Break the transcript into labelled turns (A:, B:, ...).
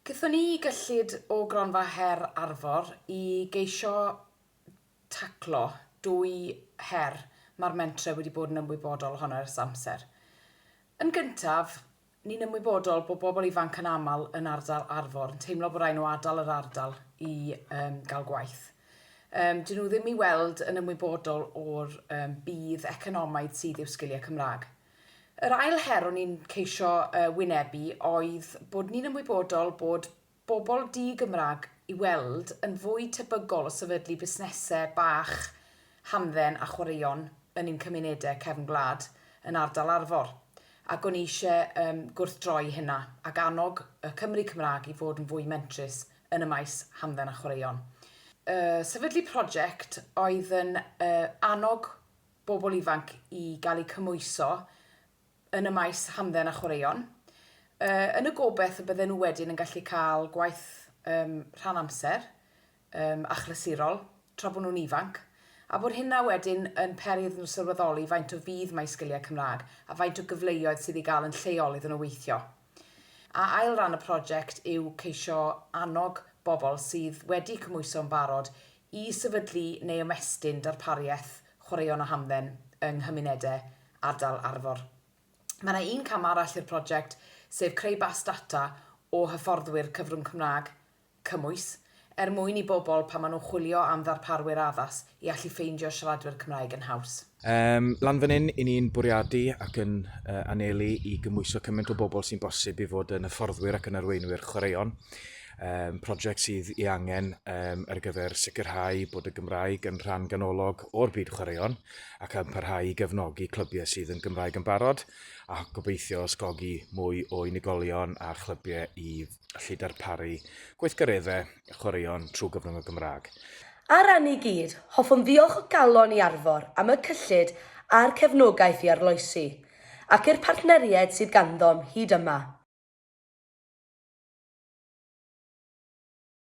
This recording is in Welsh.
A: Gaethon ni gyllid o Gronfa Her Arfor i geisio taclo dwy her mae'r mentrau wedi bod yn ymwybodol ohono ers amser. Yn gyntaf, ni'n ymwybodol bod bobl ifanc yn aml yn ardal Arfor yn teimlo bod rhaid nhw adael yr ardal i um, gael gwaith. Um, dyn nhw ddim i weld yn ymwybodol o'r um, budd economaidd sydd i'w sgiliau Cymraeg. Yr ail her o'n i'n ceisio wynebu oedd bod ni'n ymwybodol bod bobl di-Gymraeg i weld yn fwy tebygol o sefydlu busnesau bach hamdden a chwaraeon yn ein cymunedau cefn gwlad yn ardal Arfor, ac o'n i eisiau gwrthdroi hynna ac annog y Cymry Cymraeg i fod yn fwy mentrus yn y maes hamdden a chwaraeon. Sefydlu project oedd yn annog bobl ifanc i gael eu cymhwyso yn y maes hamdden a chwaraeon, yn y gobaith y bydden nhw wedyn yn gallu cael gwaith um, rhan amser, um, achlysurol, tra bod nhw'n ifanc, a bod hynna wedyn yn peri iddyn nhw sylweddoli faint o fudd mae sgiliau Cymraeg a faint o gyfleoedd sydd ei gael yn lleol iddyn nhw weithio. A ail ran y project yw ceisio annog bobl sydd wedi cymhwyso yn barod i sefydlu neu ymestyn darpariaeth chwaraeon a hamdden yng nghymunedau ardal Arfor. Mae yna un cam arall i'r project, sef creu bas data o hyfforddwyr cyfrwng Cymraeg cymwys, er mwyn i bobl, pan maen nhw'n chwilio am ddarparwyr addas, i allu ffeindio siaradwyr Cymraeg yn haws. Ym lan fan hyn, 'yn ni'n bwriadu ac yn anelu i gymwyso cymaint o bobl sy'n bosib i fod yn hyfforddwyr ac yn arweinwyr chwaraeon, project sydd ei angen ar gyfer sicrhau bod y Gymraeg yn rhan ganolog o'r byd chwaraeon ac yn parhau i gefnogi clybiau sydd yn Gymraeg yn barod a gobeithio ysgogi mwy o unigolion a chlybiau i allu darparu gweithgareddau chwaraeon trwy gyfrwng y Gymraeg. Ar ran ni gyd, hoffwn ddiolch o galon i Arfor am y cyllid a'r cefnogaeth i arloesi, ac i'r partneriaid sydd ganddo'm hyd yma.